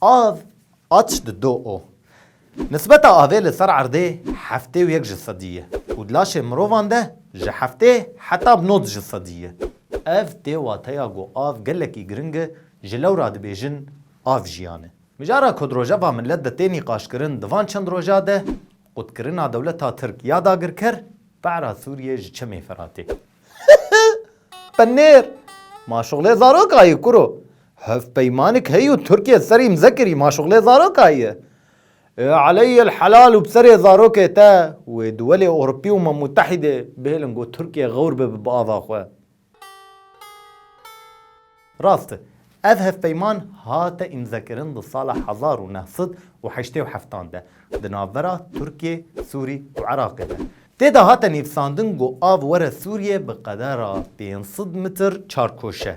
Av, Atş di do o. Nisbeta avê li ser erdê heftê û yek ji sedî ye û di laşê mirovan de ji heftê heta bi nod ji sedî ye. Ev tê wateya ku av gelekî giring e, ji lewra dibêjin av jiyan e. Mijara ku di rojeva milet de tê nîqaşkirin di van çend roja de, qutkirina dewleta Tirk ya dagirker, para Sûriyê ji çemê Firatê. Hıhıh! Penêr! Ma şuxlê zaroka yê kuro! Hevpeymanik heye û Tirkiye ser îmze kirî ma şuxlê zaroka ye. Ê aleyê el helal û bi serê zarokê te û ê duwelê Ewropî û ma Mutehîdê bihêlin ku Tirkiye xewr bibe bi ava xwe. Rast e, ev hevpeyman hate îmzekirin di sala hezar û neh sed û heştê û heftan de di navbera Tirkiye, Sûrî û Iraqê de. Tê de hate nivîsandin ku av were Sûriyê bi qedera pênc sed mitr çarkoşe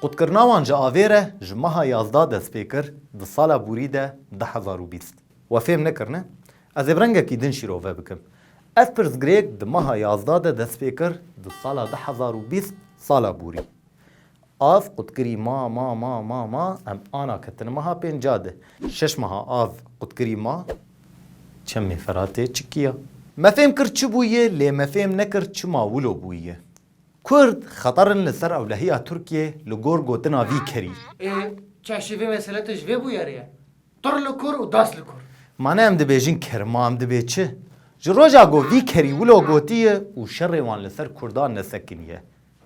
Qutkirina wan ji avê re ji meha yazda dest pê kir di sala bûrî de du hezar û bîst. We fêm nekirine? Ez ê bi rengekî din şîrove bikim. Ev pirsgirêk di meha yazda de dest pê kir di sala du hezar û bîst sala bûrî. Av qutkirî ma ma ma ma ma em ana ketine meha pênca de. Şeş meha av qutkirî ma çemê Feratê çikiya. Me fêm kir çi bûye lê me fêm nekir çima wilo bûye. Kurd xeter in li ser ewlehiya Tirkiyê li gor gotina vî kerî. Ê çeşî vê meseletê ji vê bûyerê ye. Tur li kur û das li kur. Mane em dibêjin kerma em dibê çi? Ji roja got vî kerî wilo gotiye û şerê wan li ser kurdan nesekiniye.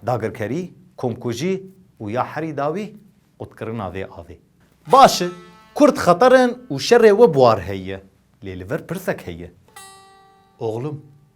Dagirkerî, komkujî û ya herî dawî qutkirina vê avê. Baş e, kurd xeter in û şerê we bi war heye. Lê li vir pirsek heye. Oxlum.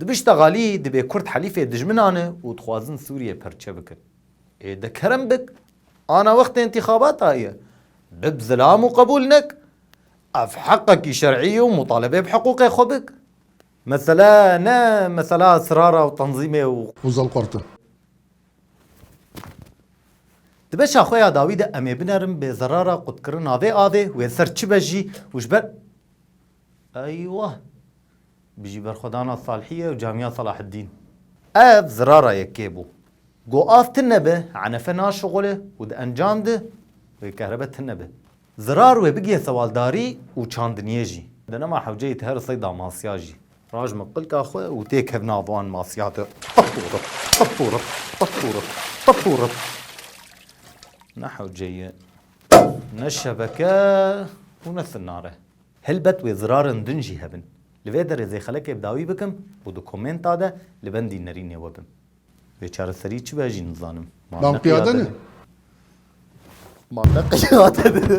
Di bişta xalî dibê kurd helîfê dijminan e û dixwazin Sûriyê perçe bikin. Ê de kerem bik, ana wextê întîxabata ye. Bib zilam û qebûl nek. Ev heqekî şer'î ye û mutalebe bi hiqûqê xwe bik. Mesele ne mesela sirara û tenzîmê û. Ozal Qurt e. Di beşa xwe ya dawî de em ê binerin bê zerara qutkirina vê avê, wê ser çi be jî û ji ber. Eywa! Bijî berxwedana Salhîye û Camîya Salaheddîn. Ev zirara yekê bû. Go av tine be, enefe naşixulê û di encam de wê kehrebe tine be. Zirar wê bigiye sewaldarî û çandiniyê jî. Di nema hewceyê ti her sey da masya jî. Raj min qilka xwe û tê kev nav wan masya de. Tip û rip, tip û rip, tip û rip, tip û rip. Ne hewce ye, ne şebeke û ne sinare. Helbet wê zirarên din jî hebin. Li vê derê zêxelekê bi dawî bikim û di komenta de li bendî nerînê we bim. Wê çareserî çi be jî nizanim. Ma ne qiyade ne. Ma ne qiyade ne.